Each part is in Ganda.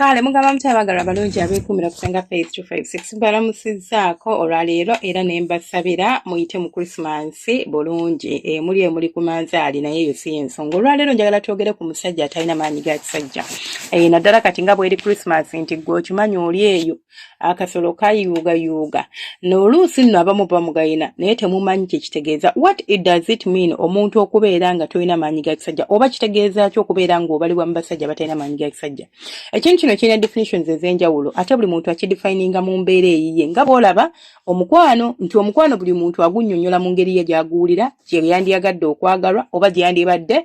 kale mugamba muti abagala abalungi abeekuumira kusenga faith 256 mbalamusizaako olwaleero era ne mbasabira muyite mu krisimansi bulungi emuli eh, emuli ku manzaali naye eyo si yensonga olwaleero njagala twogere ku musajja atalina maanyi ga kisajja eh, naddala kati nga bweri krisimansi nti gwe okimanyi oli eyo akasolo kayuuga yuuga noluusi nno abamu bamugayina naye temumanyi kyekitegeeza what it does it mean omuntu okubeera nga tolina maanyi ga kisajja oba kitegeeza ki okubeera nga obalibwa mu basajja batalina maanyi ga kisajja ekintu kino kirina definitions ez'enjawulo ate buli muntu akidefininga mu mbeera eyiye nga bwolaba omukwano nti omukwano buli muntu agunyonyola mu ngeri ye gyaguwulira gyeyandiyagadde okwagalwa oba gyeyandibadde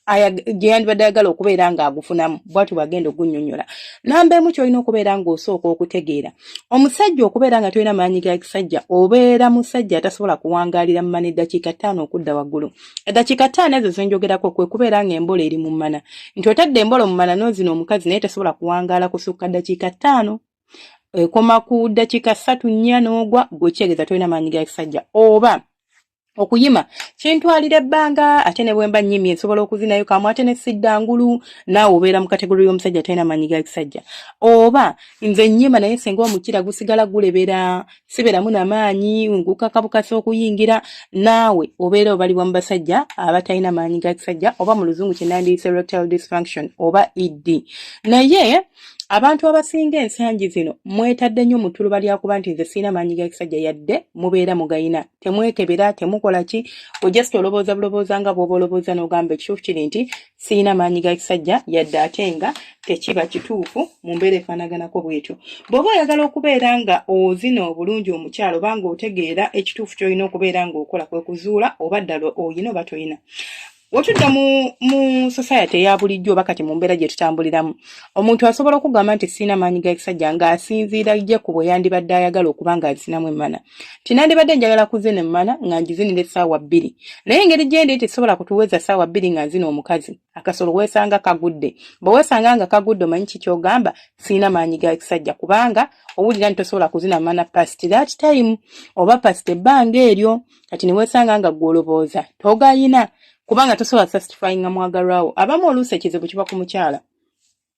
gyeyandibadde ayagala okubeera ng'agufunamu bwatyo bwagenda ogunyonyola namba emu kyolina okubeera ng'osooka okutegeera omusajja okubeera nga tolina maanyi ga kisajja obeera musajja atasobola kuwangaalira mu mana eddakiika ttaano okudda waggulu eddakiika ttaano ezo zenjogerako kwe kubeera ng'embola eri mu mana nti otadde embola mu mana n'ozina omukazi naye tasobola kuwangaala kusukka ddakiika ttaano ekoma ku dakika satu nnya n'ogwa gwekyegeza tolina maanyi ga kisajja oba okuyima kintwalira ebbanga ate ne bwemba nyimye nsobola okuzinayo kamu ate ne sidda ngulu naawe obeera mu kategori y'omusajja talina maanyi ga kisajja oba nze nyima naye senga omukira gusigala gulebera sibeeramu na maanyi ngukakabukasa okuyingira naawe obeera obalibwa mu basajja abatalina maanyi ga kisajja oba mu luzungu kye nandiyise erectile dysfunction oba ed naye abantu abasinga ensangi zino mwetadde nnyo mu ttuluba lyakuba nti nze sirina maanyi ga kisajja yadde mubeera mugayina temwekebera temukola ki ojust olobooza bulobooza nga bwoba olobooza n'ogamba ekituufu kiri nti sirina maanyi ga kisajja yadde ate nga tekiba kituufu mu mbeera efaanaganako bwetyo bw'oba oyagala okubeera nga ozina obulungi omukyalo oba nga otegeera ekituufu ky'olina okubeera ng'okola kwe kuzuula oba ddala oyina oba toyina wetudda mu mu society eya bulijjo oba kati mu mbeera gye tutambuliramu omuntu asobola okugamba nti sirina maanyi ga kisajja ng'asinziira ye ku bwe yandibadde ayagala okuba nga azinamu emmana nti nandibadde njagala kuzina emmana nga ngizinira essaawa bbiri naye engeri gyendi nti sobola kutuweza ssaawa bbiri nga nzina omukazi akasolo weesanga kagudde bwe weesanga nga kagudde omanyi ki kyogamba sirina maanyi ga kisajja kubanga owulira nti tosobola kuzina mana past that time oba past ebbanga eryo kati newesanga nga gwolobooza togayina kubanga tosobola sastifyinga mwagalwawo abamu oluusi ekizibu kiba ku mukyala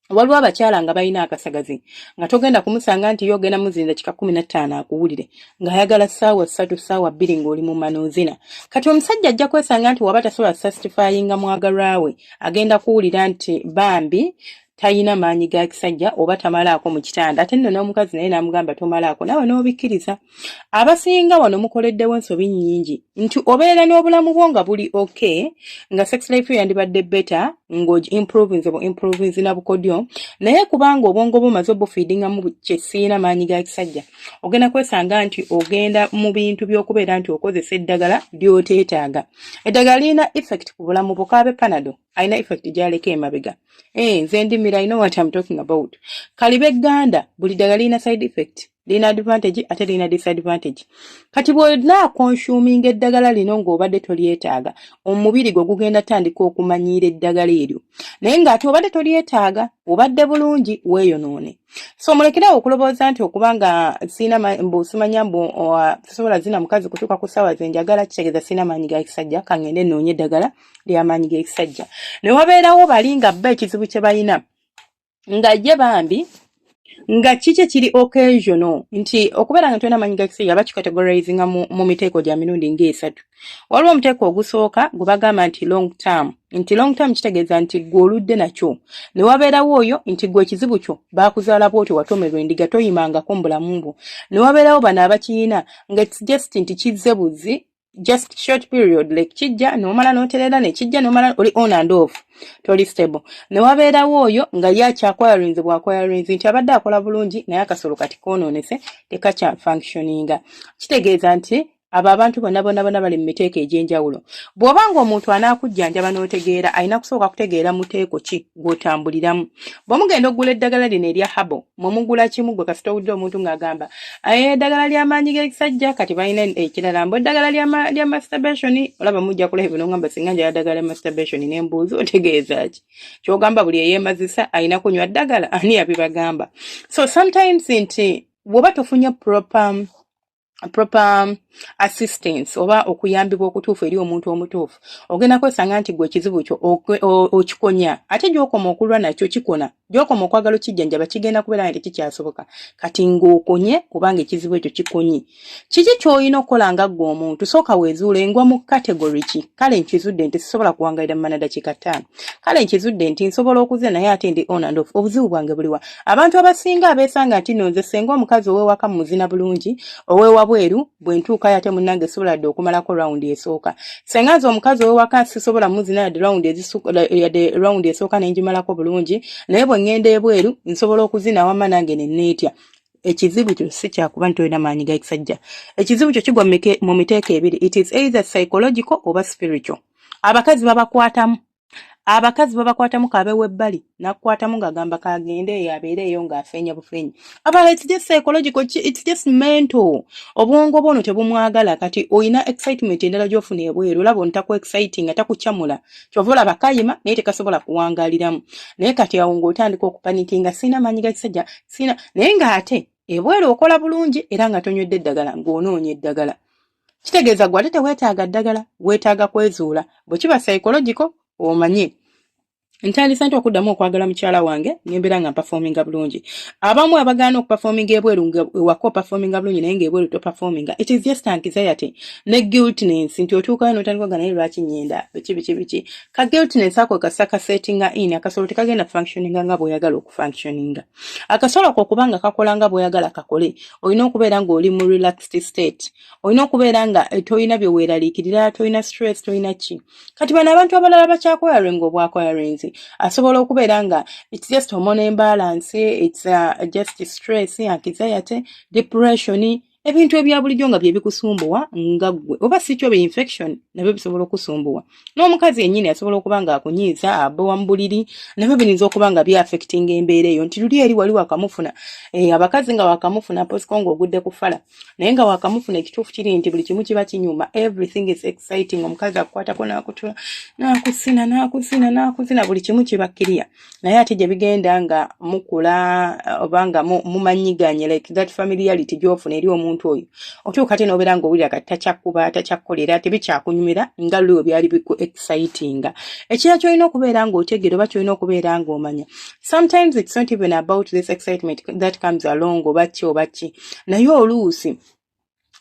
waliwo abakyala nga balina akasagazi nga togenda kumusanga nti yo ogenda muzinza kika kumi nattaano akuwulire ng'ayagala ssaawa ssatu ssaawa bbiri ng'oli mu manoozina kati omusajja ajja kwesanga nti waba tasobola sastifyinga mwagalwawe agenda kuwulira nti bambi tayina maanyi ga kisajja oba tamalaako mu kitanda ate nno n'omukazi naye n'amugamba tomalaako nawe n'obikkiriza abasinga wano mukoleddewo ensobi nnyingi nti obeera n'obulamu bwo nga buli ok nga sex life yo yandibadde beta ng'oimprovinze bu improvinze na bukodyo naye kubanga obwongo bumaze obufiidingamu kyesiina maanyi ga kisajja ogenda kwesanga nti ogenda mu bintu by'okubeera nti okozesa eddagala ly'oteetaaga eddagala lirina effect ku bulamu bukaabe panado alina effect gyaleka emabega eh nze ndimira i know what i'm talking about kalibe ganda buli ddagala lirina side effect lirina advantage ate lirina disadvantage kati bwolina consuming eddagala lino ng'obadde tolyetaaga omubiri gwe gugenda tandika okumanyiira eddagala eryo naye ng'ate obadde tolyetaaga obadde bulungi weeyonoone so mulekerawo okulowooza nti okuba nga sirina mbu simanya mbu sobola zina mukazi kutuuka ku ssaawa ze njagala kitegeeza sirina maanyi ga kisajja kangende noonye eddagala lyamaanyi gekisajja newabeerawo bali nga bba ekizibu kye balina nga ye bambi nga kiki kiri occasional nti okubeera nga tulina amanyi gakisajja bakikategorizinga mu, mu miteeko gya mirundi ngaesatu waliwo omuteeko ogusooka gwe bagamba nti long term nti long term kitegeeza nti gwe oludde nakyo ne wabeerawo oyo nti gwe ekizibu kyo baakuzaala bwotyo watomerwa endiga toyimangako mu bulamu bwo ne wabeerawo bano abakiyina nga its just nti kizze buzzi just short period like kijja nomala noterera ne kijja nomala oli on and off toli stable ne wabeerawo oyo nga ye akyakwayalwenzi bwakwayalwenzi nti abadde akola bulungi naye akasolo kati konoonese tekakya functioninga kitegeeza nti abo abantu bonna bonna bonna bali mu miteeko egy'enjawulo bw'oba ng'omuntu anaakujjanjaba n'otegeera alina kusooka kutegeera muteeko ki gw'otambuliramu bwe mugenda okugula eddagala lino erya habo mwemugula kimu gwe kasita owulira omuntu ng'agamba aye eddagala ly'amaanyi g'ekisajja kati balina ekirala mbu eddagala lya masturbation olaba mujja kulaba bino ngamba singa njala ddagala lya masturbation ne mbuuzi otegeeza ki kyogamba buli eyeemazisa alina kunywa ddagala ani yabibagamba so sometimes nti woba tofunye proper proper um, assistance oba okuyambibwa okutuufu eri omuntu omutuufu ogenda kwesanga nti gwe ekizibu kyo okikonya ate gyokoma okulwa nakyo kikona gyokoma okwagala okijjanjaba kigenda kubeera nga tekikyasoboka kati ng'okonye kubanga ekizibu ekyo kikonyi kiki ky'olina okukola nga ggwe omuntu sooka weezuula engwa mu kategori ki kale nkizudde nti sisobola kuwangalira mu manadakiika ttaano kale nkizudde nti nsobola okuze naye ate ndi on and off obuzibu bwange buliwa Abantu abasinga abeesanga nti no nze senga omukazi ow'ewaka mu muzina bulungi ow'ewabweru bwe ntuukayo ate munnange sisobola dde okumalako rawundi esooka. Senga nze omukazi ow'ewaka sisobola muzina yadde rawundi yadde rawundi esooka ne ngimalako bulungi naye bwe ŋŋenda ebweru nsobola okuzina wamma nange ne neetya. ekizibu kyo si kyakuba nti olina maanyi ga kisajja ekizibu kyo kigwa mu miteeko ebiri it is either psychological oba spiritual abakazi babakwatamu abakazi babakwatamu kabe webbali nakukwatamu ngagamba kagende eyo abeere eyo ng'afeenya bufeenya abala it's just psychological it's just mental obwongo bwono tebumwagala kati olina excitement endala gyofuna ebweru olaba ono taku exciting atakucamula kyova olaba kayima naye tekasobola kuwangaliramu naye kati awo ng'otandika okupanikinga sirina maanyi ga kisajja sirina naye ng'ate ebweru okola bulungi era nga tonywedde eddagala ng'onoonya eddagala kitegeeza gwe ate teweetaaga ddagala weetaaga kwezuula bwe kiba psychological omanye ntandise nti okuddamu okwagala mukyala wange nembeera nga mpafominga bulungi abamu abagaana okupafominga ebweru ewaka opafominga bulungi naye ngaebweru topafominga it is just anxiety ne guiltness nti otuukayo notandika ogana naye lwaki nyenda biki biki biki ka guiltness ako kasaka settinga in akasolo tekagenda functioninga nga bweoyagala okufunctioninga akasolo ko kuba nga kakola nga bwoyagala kakole olina okubeera nga oli mu relaxed state olina okubeera nga eh, tolina byeweeraliikirira tolina stress tolina ki kati bano abantu abalala bakyakoyaringa obwakoyarinzi asobola okubeera nga its just omona embalance its uh, just stress anxiety depression ebintu ebya bulijjo nga byebikusumbuwa nga ggwe oba sikyo be infection nabyo bisobola okusumbuwa n'omukazi yennyini asobola okuba nga akunyiiza abowa mu buliri nabyo biyinza okuba nga byafectinga embeera eyo nti luli eri wali wakamufuna eh, abakazi nga wakamufuna posiko nga ogudde ku fala naye nga wakamufuna ekituufu kiri nti buli kimu kiba kinyuma everything is exciting omukazi akukwatako n'akutula n'akusina n'akusina n'akusina buli kimu kiba kiriya naye ate gye bigenda nga mukula uh, oba nga mumanyiganye like that familiarity gyofuna eri omuntu oyo otuuka ate nobeera nga owulira kati takyakuba takyakukolera tebikyakunyumira nga luliwe byali biku excitinga ekira kyolina okubeera nga otegeera oba kyolina okubeera nga omanya sometimes it's not even about this excitement that comes along oba ki oba ki naye oluusi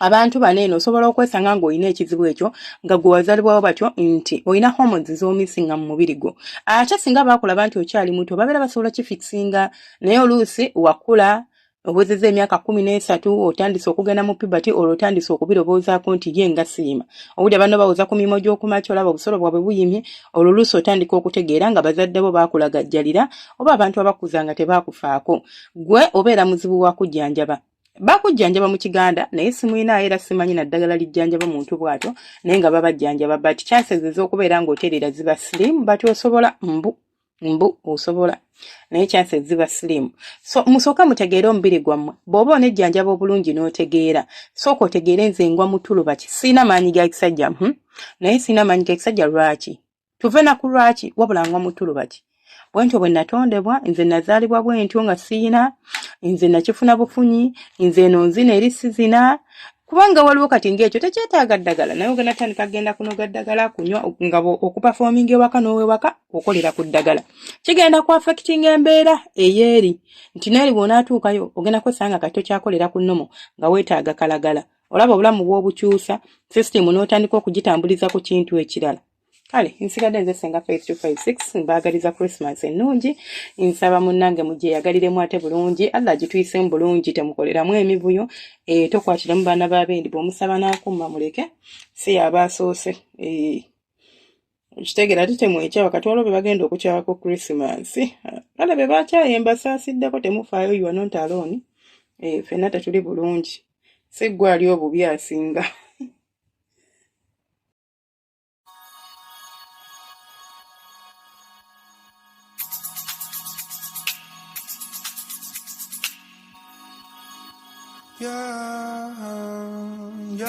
abantu bano eno osobola okwesanga ng'olina ekizibu ekyo nga gwe wazalibwawo batyo nti olina hormones z'omisinga mu mubiri gwo ate singa baakulaba nti okyali muto babeera basobola kifikisinga naye oluusi wakula owezeza emyaka kumi n'esatu otandise okugenda mu pibati olwo otandise okubirowoozaako nti ye nga siima owulira banno bawoza ku mirimu gy'okumakya olaba obusolo bwabwe buyimye olwo oluusi otandika okutegeera nga bazadde bo baakulagajjalira oba abantu abakuza nga tebaakufaako gwe obeera muzibu wa kujjanjaba bakujjanjaba mu kiganda naye simuyinaayo era simanyi naddagala lijjanjaba muntu bwatyo naye nga babajjanjaba but chances ez'okubeera ng'otereera ziba slim but osobola mbu mbu osobola naye chances ziba slim so musooka mutegeere omubiri gwammwe bw'oba onejjanjaba obulungi n'otegeera sooka otegeere nze ngwa mutuluba ki sirina maanyi ga kisajja hmm? naye sirina maanyi ga kisajja lwaki tuve na ku lwaki wabula ngwa mutulu baki bwentyo bwe natondebwa nze nazaalibwa bwentyo nga siyina nze nakifuna bufunyi nze eno nzina eri sizina kubanga waliwo kati ngaekyo tekyetaaga ddagala naye ogenda tandika genda kunoga ddagala kunywa nga okupafominga ewaka n'owewaka okolera ku ddagala kigenda ku affectinga embeera eyeeri nti neeri bwonaatuukayo ogenda kwesanga kati tokyakolera ku nomo nga weetaaga kalagala olaba obulamu bwobukyusa system n'otandika okugitambuliza ku kintu ekirala kale nsigadde nze senga faith 256 mbaagaliza christmas ennungi nsaba munnange mugyeyagaliremu ate bulungi allah agituyisemu bulungi temukoleramu emivuyo e, tokwatiramu baana babendi bwomusaba n'akumma muleke si yabaasoose e. Eh. okitegera ate temwekyawa kati waliwo bebagenda okukyawa ku christmas kale bebakyaye mbasaasiddeko temufaayo you are not alone eh, fenna tetuli bulungi si gwe ali obubi asinga Yeah, yeah.